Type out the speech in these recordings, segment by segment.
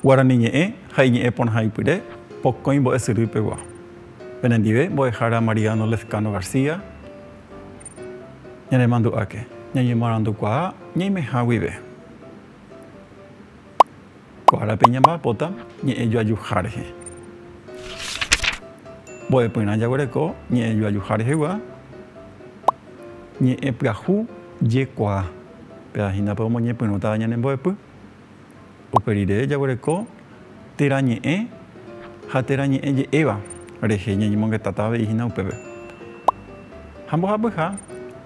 Guarani ñe'ẽ ha iñe'ẽ porãha ipyre, pokõi mbo'esyry pegua. Penendive mbo'ehára Mariano Lezcano García, ñanemandu'áke, ñañemoarandukuaa ñaimeha guive. Ko árape ñamba'apóta ñe'ẽjoajuha rehe. Mbo'epyrã jaguereko ñe'ẽjoajuha rehegua ñe'ẽpyahu jekuaa, péva hína pe omoñepyrũtava ñane mbo'epy. Upe rire jaguereko térã ñe'ẽ ha térã ñe'ẽ je'éva rehe ñañemongetata avei hína upépe. Ha mbohapyha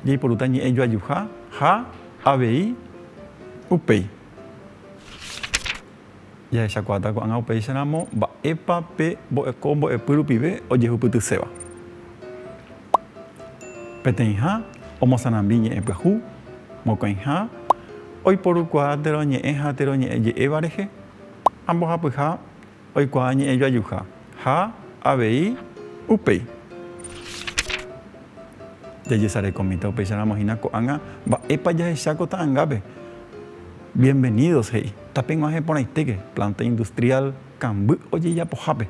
jaiporúta ñe'ẽjoajuha ha. Avei upéi jahechakuaáta ko'ág̃a upéicharamo mba'épa pe ko mbo'epy rupive ojehupytyséva. Peteĩha omosarambi ñe'ẽ pyahu, mokõiha oiporukuaa térõ ñe'ẽ ha térõ ñe'ẽ je'éva rehe ha mbohapyha Oikuaa ñe'ẽ joajuha ha avei upéi. Jajesarekomíta upéicharamo hína ko'ág̃a mba'épa jahecha ko ta'angápe. Bienvenidos, he'i. Tapeg̃uahẽ porãitéke planta industrial kamby ojejapohápe.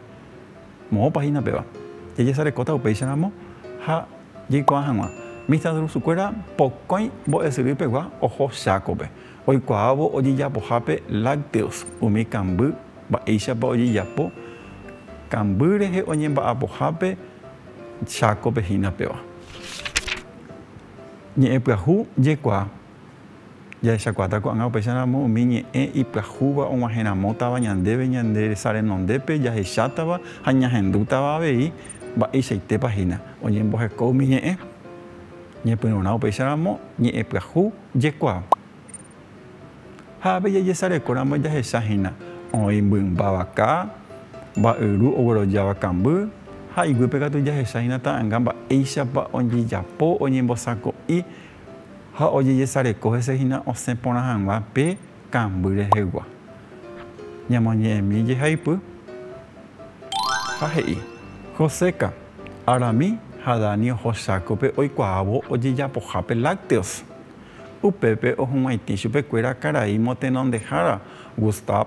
Moõpa hína péva. Jajesarekóta upéicharamo ha jaikuaa hag̃ua. Mista Drusukuéra pokõi mbo'esyry pegua oho Chákope. Oikuaávo ojejapohápe lácteos umi kamby mba'éichapa ojejapo kamby rehe oñemba'apohápe Chácope hína péva. Ñe'ẽ pyahu jekuaa. Jahechakuaáta ko'ág̃a upéicha ramo umi ñe'ẽ ipyahúva og̃uahẽramótava ñandéve ñande resa renondépe jahechátava ha ñahendútava avei mba'eichaitépa hína oñemboheko umi ñe'ẽ. Ñepyrũrã upéicharamo ñe'ẽpyahu jekuaa. Ha avei jajesarekóramo jahecha hína oĩ mymba vaka, mba'yru oguerojáva kamby, ha iguýpe katu jahecha hína ta'anga mba'éichapa ojejapo oñembosako'i ha ojejesareko hese hína osẽ porã hag̃ua pe kamby rehegua. Ñamoñe'ẽmi jehaipy. Ha he'i, Joséka, Arami ha Dani oho chákope oikuaávo ojejapohápe lácteos. Upépe ohug̃uaitĩ chupekuéra karai motenondehára Gustav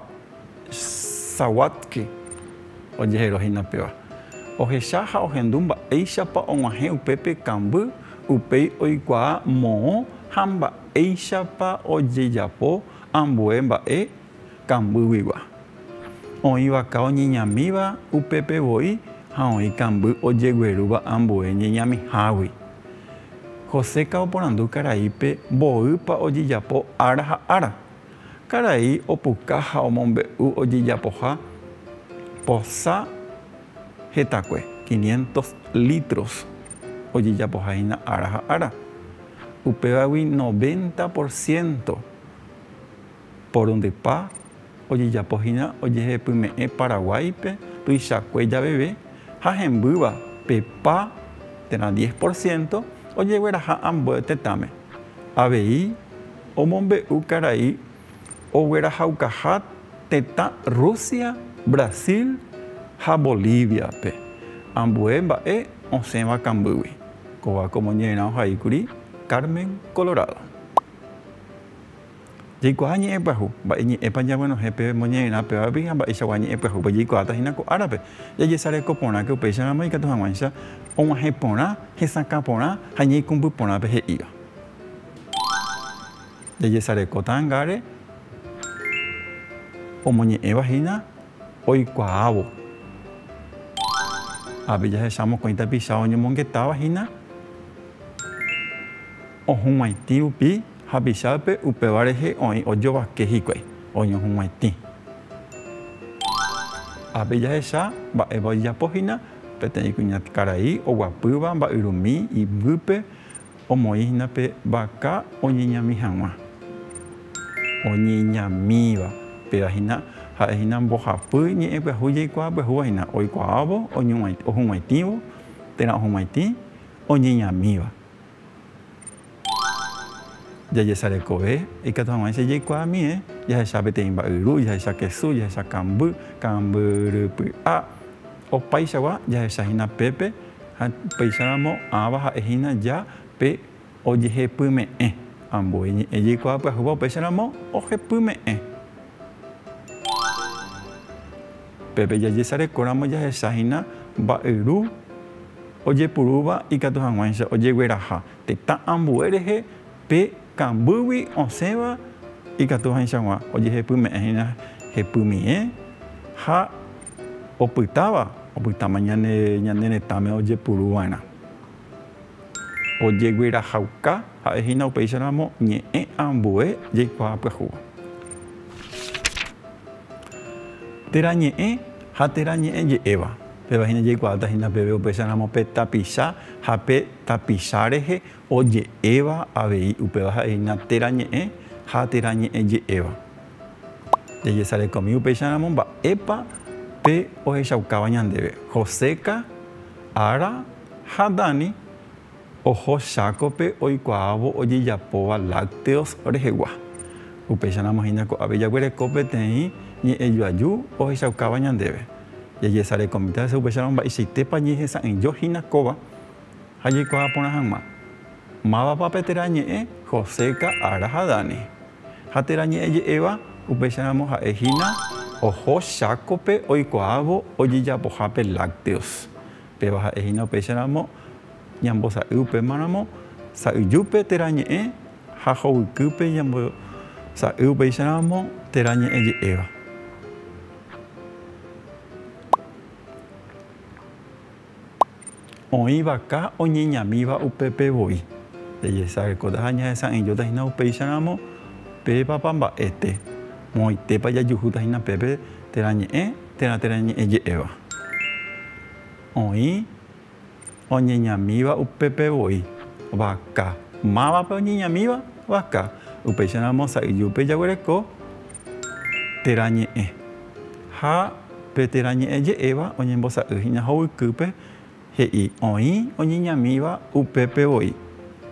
Sawatzki ojehero hína péva. Ohecha ha ohendu mba'éichapa og̃uahẽ upépe kamby upéi oikuaa moõ ha mba'éichapa ojejapo ambue mba'e, kambýguigua. Oĩ vaka oñeñamíva upépe voi ha oĩ kamby ojeguerúva ambue ñeñamihágui. Joseca oporandu karaípe mboýpa ojejapo ára ha ára. Karai opuka ha omombe'u ojejapoha posa hetakue, quinientos litros, ojejapoha hína ára ha ára. Upévagui noventa por ciento Porondepa ojejapo hína ojehepyme'ẽ Paraguáipe tuichakue javeve ha hembýva pe pa térã diez por ciento ojegueraha ambue tetãme? Avei omombe'u karai oguerahaukaha tetã Rusia, Brasil ha Bolíviape ambue mba'e osẽva kambýgui. Kóva komo ñe'ẽrã ohaíkuri Carmen, Colorado. Jaikuaa ñe'ẽ pyahu, mba'e ñe'ẽpa ñaguenohẽ peve moñe'ẽrã pevagui ha mba'eichagua ñe'ẽ pyahúpe jaikuaáta hína ko árape. Jajesareko porãke upéicharamo ikatu hag̃uáicha og̃uahẽ porã, hesakã porã ha ñaikũmby porã pe he'íva. Jajesareko ta'angáre omoñe'ẽva hína oikuaávo. Ápe jahecha mokõi tapicha oñomongetáva hína. ohug̃uaitĩ rupi hapichápe upéva rehe oĩ ojovake hikuái oñohug̃uaitĩ. Ápe jahecha mba'épa ojejapo hína peteĩ kuñakarai oguapýva mba'yrumi iguýpe omoĩ hína pe vaka oñeñami hag̃ua. Oñeñamíva péva hína ha'e hína mbohapy ñe'ẽ pyahu jaikuaa pyahúva hína oikuaávo ohug̃uaitĩvo térã ohug̃uaitĩ oñeñamíva Jajesarekove ikatu hag̃uáicha jaikuaamie jahecha peteĩ mba'yru, jahecha kesu, jahecha kamby, kambyrypy'a. Opaichagua jahecha hína pépe ha upéicharamo ãva ha'e hína ja pe ojehepyme'ẽ. Ambue ñe'ẽ jaikuaa pyahúva upéicharamo ojepyme'ẽ. Pépe jajesarekóramo jahechahína mba'yru ojepurúva ikatu hag̃uáicha ojegueraha tetã ambue rehe pe kambýgui osẽva ikatu hag̃uáichag̃ua ojehepyme'ẽhína hepymie ha opytáva opytáma ñane retãme ojepuruva'erã. Ojeguerahauka ha'e hína upéicharamo ñe'ẽ ambue jaikuaa pyahúva. Térã ñe'ẽ ha térã ñe'ẽ je'éva. Péva hína jaikuaáta hína peve upéicharamo pe tapicha ha pe tapicha rehe oje'éva avei upéva ha'e hína térã ñe'ẽ ha térã ñe'ẽ je'éva. Jajesarekomi upéicharamo mba'épa pe ohechaukáva ñandéve, Joséka, Ára, Ha Dani oho chákope oikuaávo ojejapóva lácteos rehegua. Upéicharamo hína ko'ápe jaguereko peteĩ ñe'ẽjoaju ohechaukáva ñandéve. Jajesareko mitã hese upéicharamo mba'eichaitépa ñehesa'ỹijo hína kóva ha jaikuaa porã hag̃ua, Mávapa pe térã ñe'ẽ José, Ka'ara ha Dani. Ha térã ñe'ẽ je'éva upéicharamo ha'e hína oho chákope oikuaávo ojejapohápe lácteos Péva ha'e hína upéicha ramo ñambosa'y upéma ramo sa'y júpe térã ñe'ẽ ha hovykýpe ñambosa'y upéicha ramo térã ñe'ẽ je'éva. Oĩ vaka oñeñamíva upépe voi. Jajesareko ha ñahesa'ỹijóta hína upéicha ramo pe papamba'e té. Moõitépa jajuhúta hína pépe térã ñe'ẽ Térã térã ñe'ẽje'éva oĩ oñeñamíva upépe voi, vaka. Mávape oñeñamíva? Vaka. Upéicharamo sa'yjúpe jaguereko térã ñe'ẽ. Ha pe térã ñe'ẽje'éva oñembosa'y hína hovykýpe He'i, Oĩ oñeñamíva upépe voi.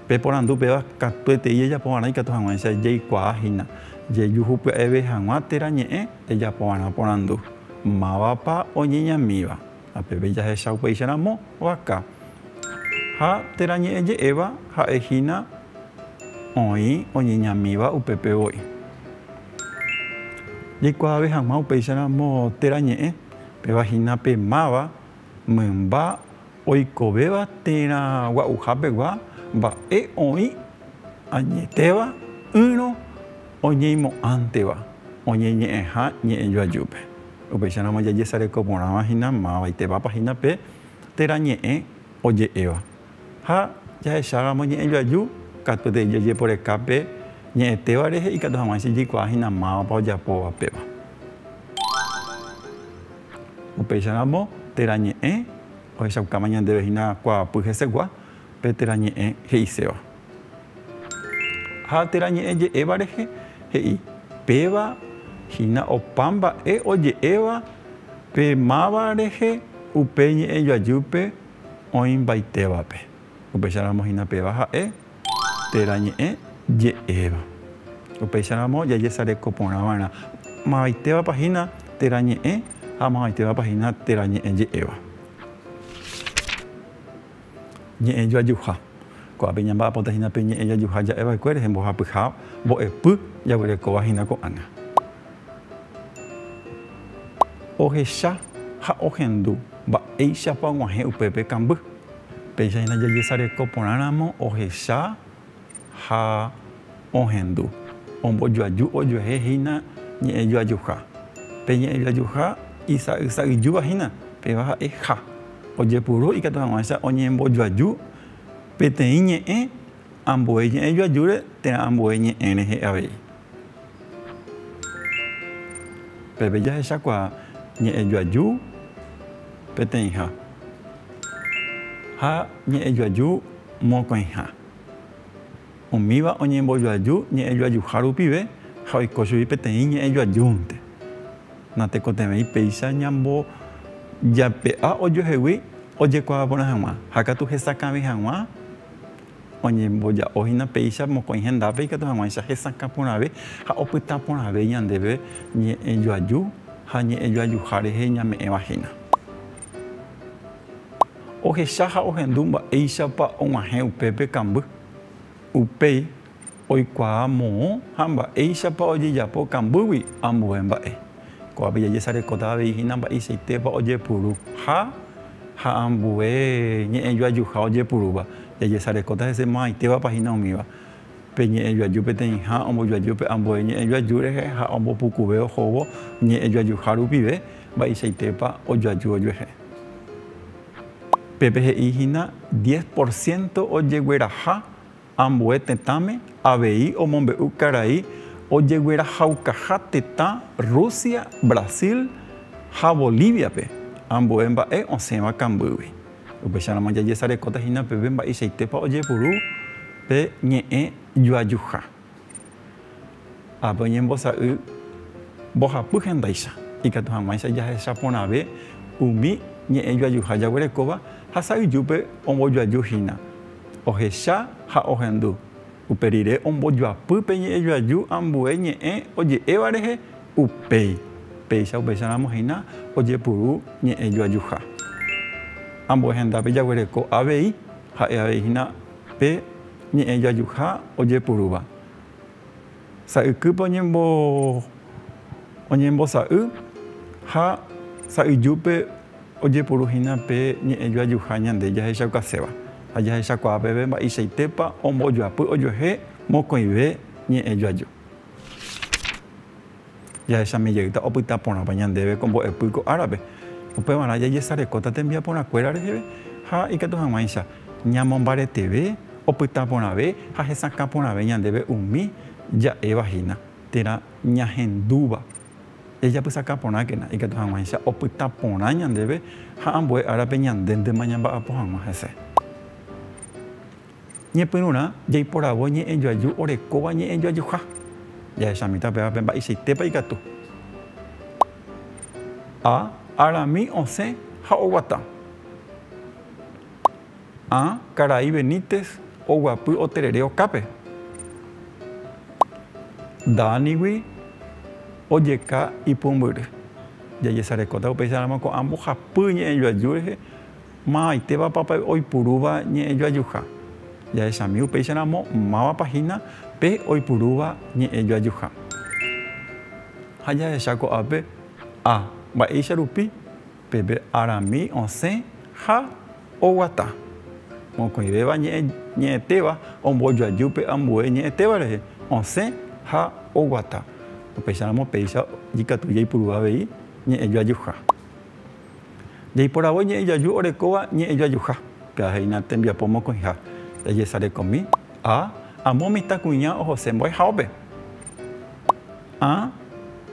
Pe porandu péva katuetei ejapovarã ikatu hag̃uáicha jaikuaa hína. Jejuhupya'eve hag̃ua térã ñe'ẽ ejapovarã porandu, Mávapa oñeñamíva? Ha peve jahecha upéicha ramo, vaka. Ha térã ñe'ẽ je'éva ha'e hína oĩ oñeñamíva upépe voi. Jaikuaave hag̃ua upéicha ramo térã ñe'ẽ, péva hína pe máva Mymba oikovéva térã gua'uhápegua mba'e oĩ añetéva ỹrõ oñeimo'ãnteva oñeñe'ẽha ñe'ẽjoajúpe. Upéicharamo jajesareko porãva hína mavaitevapa hína pe térã ñe'ẽ oje'éva. Ha jahecháramo ñe'ẽjoaju, katu avei jajeporeka pe ñe'ẽtéva rehe ikatu hag̃ua chejekuaa hína mávapa ojapóva péva. Upéicha ramo, térã ñe'ẽ ohechaukáma ñandéve hína kuaapy hesegua pe térã ñe'ẽ he'iséva. Ha térã ñe'ẽ je'éva rehe he'i, Péva hína opa mba'e oje'éva pe máva rehe upe ñe'ẽ joajýpe oĩmbaitévape. Upéicha ramo hína péva ha'e. Térã ñe'ẽ je'éva. Upéicha ramo jajesareko porã va'erã mavaitévapa hína térã ñe'ẽ ha mavaitévapa hína térã ñe'ẽ je'éva. Ñe'ẽ joajuha. Ko'ápe ñamba'apóta hína pe ñe'ẽ jajuha ja'e va'ekue rehe mbohapyha mbo'epy jaguerekóva hína ko'ág̃a. Ohecha ha ohendu mba'éichapa og̃uahẽ upépe kamby. Péicha hína jajesareko porãramo ohecha ha ohendu, ombojoaju ojuehe hína ñe'ẽ joajuha. Pe ñe'ẽ joajuha isa'y sa'yjúva hína, péva ha'e ha. Ojepuru ikatu hag̃uáicha oñembojoaju peteĩ ñe'ẽ ambue ñe'ẽ joajúre térã ambue ñe'ẽ rehe avei. Peve jahechakuaa ñe'ẽjoaju peteĩha ha ñe'ẽjoaju mokõiha. Umíva oñembojoaju ñe'ẽjoajuha rupive ha oiko chugui peteĩ ñe'ẽjoajúnte. Natekotevẽi péicha ñambojape'a ojoehegui ojekuaaporã hag̃ua ha katu hesakãvi hag̃ua Oñemboja'o hína péicha mokõi hendápe ikatu hag̃uáicha hesakã porãve ha opyta porãve ñandéve ñe'ẽ joaju ha ñe'ẽ joajuha rehe ñame'ẽva hína. Ohecha ha ohendu mba'éichapa og̃uahẽ upépe kamby. Upéi. Oikuaa moõ ha mba'éichapa ojejapo kambýgui ambue mba'e. Ko'ápe jajesarekóta avei hína mba'eichaitépa ojepuru ha ha ambue ñe'ẽjoajuha ojepurúva. Jajesarekóta hese mo'ãitévapa hína umíva. Pe ñe'ẽjoaju peteĩha ombojoaju pe ambue ñe'ẽjoaju rehe ha ombopukuve ohóvo ñe'ẽjoajuha rupive mba'eichaitépa ojoaju ojuehe. Pépe he'i hína diez por ciento ojegueraha Ambue tetãme avei omombe'u karai ojeguerahaukaha tetã Rusia, Brasil ha Bolíviape ambue mba'e osẽva kambýgui. Upéicharamo jajesarekóta hína peve mba'eichaitépa ojepuru pe ñe'ẽ juajuha. Ápe oñembosa'y mbohapy hendaicha, ikatu hag̃uáicha jahecha porãve umi ñe'ẽ joajuha jaguerekóva ha sa'yjúpe ombojoaju hína. Ohecha ha ohendu, upe rire ombojoapy pe ñe'ẽ joaju ambue ñe'ẽ oje'éva rehe upéi, péicha upéicharamo hína ojepuru ñe'ẽ joajuha. Ambue hendápe jaguereko avei, ha'e avei hína Pe ñe'ẽ jajuha ojepurúva. Sa'ykýpe oñembosa'y ha sa'yjúpe ojepuru hína pe ñe'ẽ jajuha ñande jahechaukaséva ha jahechakuaa peve mba'eichaitépa ombojoapy ojuehe mokõive ñe'ẽ jaju. Jahechami jeýta opyta porãpa ñandéve ko mbo'epy ko árape, upevarã jajesarekóta tembiaporãkuéra reheve ha ikatu hag̃uáicha ñamombareteve, opyta porãve ha hesakã porãve ñandéve umi ja'éva hína térã ñahendúva. Jajapysaka porãkena ikatu hag̃uáicha opyta porã ñandéve ha ambue árape ñandéntema ñamba'apo hag̃ua hese. Ñepyrũrã jaiporavo ñe'ẽjoaju orekóva ñe'ẽjoajuha. Jahechamíta upéva pe mba'eichaitépa ikatu. A. Arami osẽ ha oguata. A. Karai Benítez oguapy oterere okápe. Danigui ojeka ipumbyry. Jajesarekóta upéicharamo ko'ã mbohapy ñe'ẽjoaju rehe. Maymaitevapa pe oipurúva ñe'ẽjoajuha? Jahechami upéicharamo mávapa hína pe oipurúva ñe'ẽjoajuha. Ha jahecha ko'ápe A. Mba'éicha rupi peve arami osẽ ha oguata. Mokõivéva ñe'ẽ ñe'ẽtéva ombojoaju pe ambue ñe'ẽtéva rehe, osẽ ha oguata. Upéicharamo péicha ikatu jaipurúva avei ñe'ẽjoajuha. Jaiporavo ñe'ẽ jaju orekóva ñe'ẽ jajuha. Pe'ahéina tembiapo mokõiha, ejesarekomi, a. Amo mitãkuña ohose mbo'ehaópe. A.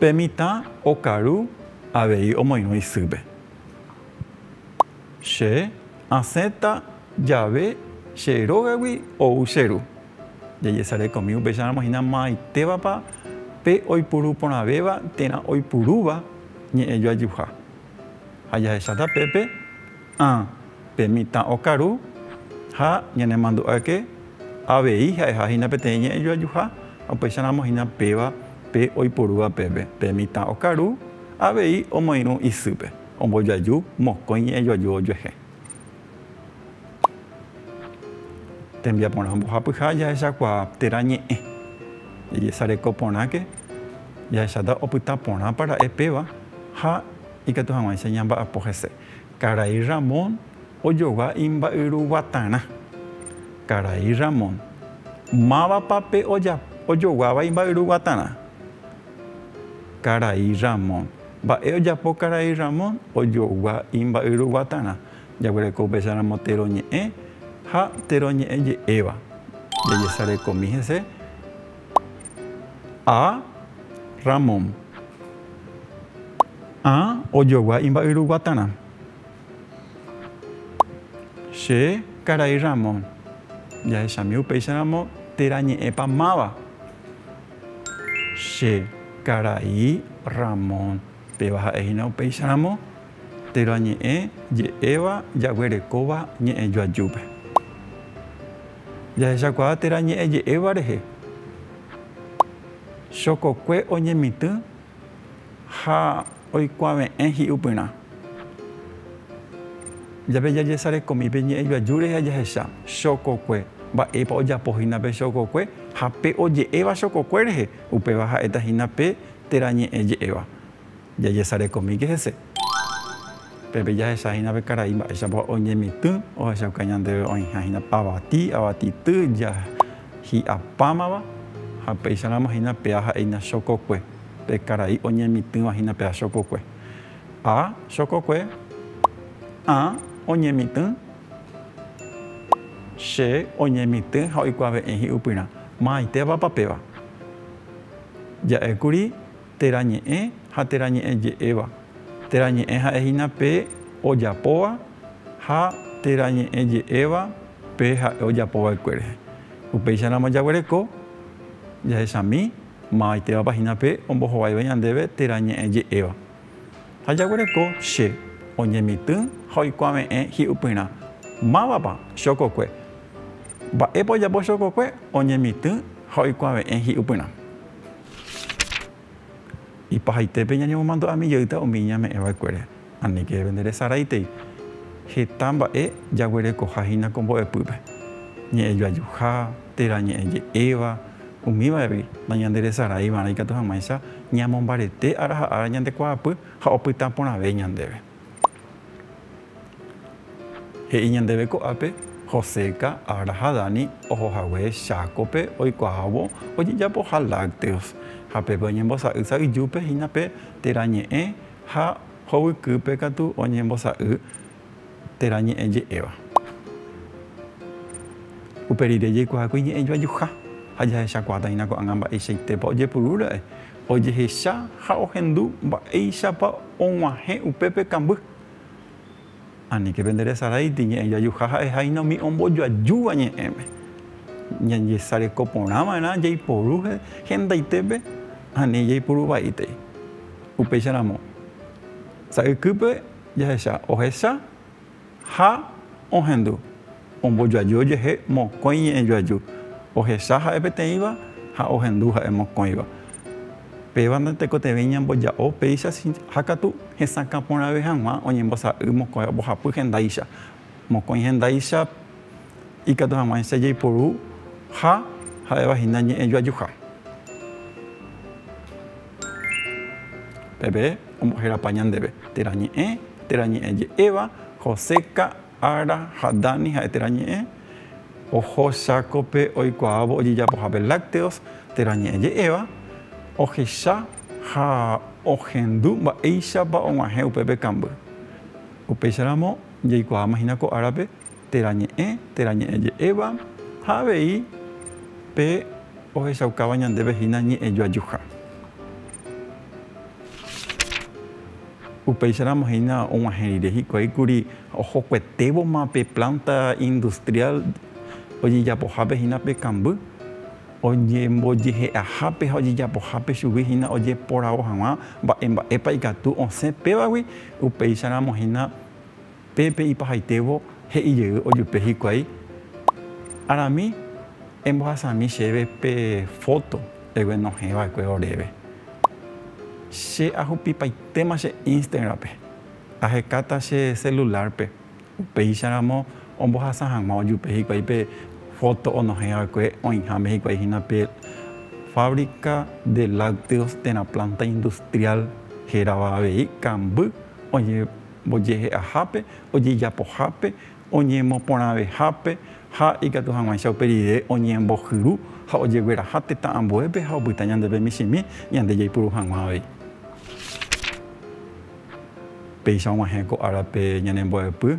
Pe mitã okaru avei omoirũ isýpe. Che asẽta jave che rógagui ou che ru. Jajesareko umi upéicharamo hína maytévapa pe oipuru porãvéva térã oipurúva ñe'ẽ joajuha. Ha jahecháta pépe, ã, pe mitã okaru ha ñanemandu'áke avei ha'eha hína peteĩ ñe'ẽ joajuha ha upéicharamo hína péva pe oipurúva pépe, pe mitã okaru avei omoirũ isýpe, ombojoaju mokõi ñe'ẽ joaju ojuehe. Tembiaporã ombohapyha jahechakuaa térã ñe'ẽ. Jajesareko porãke, jahecháta opyta porãpa ra'e péva ha ikatu hag̃uáicha ñamba'apo hese. Karai Ramón ojogua imba'yru guatarã. Karai Ramón, Mávapa pe ojoguáva imba'yru guatarã? Karai Ramón, Mba'e ojapo karai Ramón ojogua imba'yru guatarã? Jaguereko upecharamo térõ ñe'ẽ ha térõ ñe'ẽ je'éva. Jajesarekomi hese A. Ramón. A. Ojogua imba'yru guatarã. Che karai Ramón. Jahechami upéicharamo térã ñe'ẽpa máva. Che karai Ramón. Péva ha'e hína upéicharamo. Térã ñe'ẽ je'éva jaguerekóva ñe'ẽ joajúpe. Jahechakuaa térã ñe'ẽ je'éva rehe. Chokokue oñemitỹ ha oikuave'ẽ hi'upyrã. Jape jajesarekomi pe ñe'ẽ joaju rehe ha jahecha chokokue, mba'épa ojapo hína pe chokokue ha pe oje'éva chokokue rehe, upéva ha'éta hína pe térã ñe'ẽ je'éva. Jajesarekomíke hese. Pepe jahecha hína pe karai mba'éichapa oñemitỹ ohechauka ñandéve oĩha hína avati, avatityy, jahi'a pámava ha upéicharamo hína pea ha'éina chokokue, pe karai oñemitỹva hína pea chokokue. A, Chokokue, ã, oñemitỹ, che, oñemitỹ ha oikuave'ẽ hi'upyrã. Maytévapa péva? Ja'ékuri térã ñe'ẽ ha térã ñe'ẽ je'éva, térã ñe'ẽ ha'e hína pe ojapóva ha térã ñe'ẽ je'éva pe ha'e ojapo va'ekue rehe. Upéicha ramo jaguereko jahechami mavaitévapa hína pe ombohovaive ñandéve térã ñe'ẽ je'éva. Ha jaguereko che oñemitỹ ha oikuave'ẽ hi'upyrã, Mávapa chokokue? Mba'épa ojapo chokokue? Oñemitỹ ha oikuave'ẽ hi'upyrã. Ipahaitépe ñañemomandu'ami jeýta umi iñame'ẽva'ekuére, aníke evenderesaráitei heta mba'e jaguerekoha hína ko mbo'epýpe, ñe'ẽ joajuha, térã ñe'ẽ je'éva, umíva'egui nañanderesaraiva'erã ikatu hag̃uáicha ñamombarete ára ha ára ñande kuaapy ha opyta porãve ñandéve. He'i ñandéve ko'ápe, Joséca, Ara ha Dani oho hague chákope oikuaávo ojejapoha lácteos, ha pépe oñembosa'y sa'yjúpe hína pe térã ñe'ẽ ha hovykýpe katu oñembosa'y térã ñe'ẽ je'éva. Upe rire jaikuaákuri ñe'ẽ joajuha ha jahechakuaáta hína ko'ág̃a mba'eichaitépa ojepuru ra'e. Ojehecha ha ohendu mba'éichapa og̃uahẽ upépe kamby. Aníke pende resaráiti ñe'ẽ jajuha ha'eháina umi ombojoajúva ñe'ẽme. Ñañesareko porã va'erã jaiporu hendaitépe ha ni jaipuru vaítai. Upéicharamo, sa'ykýpe jahecha ohecha Ha ohendu, ombojoaju jehe mokõi ñe'ẽ joaju, ohesa ha'e peteĩva ha ohendu ha'e mokõiva. Péva ndatekotevẽi ñamboja'o péicha ha katu hesakã porãve hag̃ua oñembosa'y mokõi mbohapy hendáicha. Mokõi hendáicha ikatu hag̃uáicha jaiporu ha ha'evahína ñe'ẽ joajuha. Peve ombohérapa ñandéve, térã ñe'ẽ, térã ñe'ẽ je'éva, Joseca, Ara ha Dani ha'e térã ñe'ẽ, oho chákope oikuaávo ojejapohápe lácteos, térã ñe'ẽ je'éva, ohecha ha ohendu mba'éichapa og̃uahẽ upépe kamby. Upéicharamo jaikuaáma hína ko árape, Térã Ñe'ẽ, térã Ñe'ẽ je'éva, ha avei pe ohechaukáva ñandéve hína Ñe'ẽ joajuha. Upéicharamo hína og̃uahẽ rire hikuái kuri ohokuetévoma pe plánta industriál ojejapohápe hína pe kamby, oñembojehe'ahápe ha ojejapohápe chugui hína ojeporavo hag̃ua mba'e mba'épa ikatu osẽ pévagui, upéicharamo hína Pe pe ipahaitévo he'i jey ojupe hikuái, Arami embohasami chéve pe foto eguenohẽ va'ekue oréve. Che ahupipaitéma che Instagram-pe, ahekáta che celular-pe, upéicha ramo ombohasa hag̃ua ojupe hikuái pe foto onohẽ va'ekue oĩháme hikuái hína pe Fábrica de Lácteos térã planta industrial hérava avei kamby oĩ mbojehe'ahápe, ojejapohápe, oñemoporãvehápe ha ikatu hag̃uáicha upe rire oñembohyru ha ojegueraha tetã ambuépe ha opyta ñandéve michĩmi ñande jaipuru hag̃ua avei. Péicha og̃uahẽ ko árape ñanembo'epy.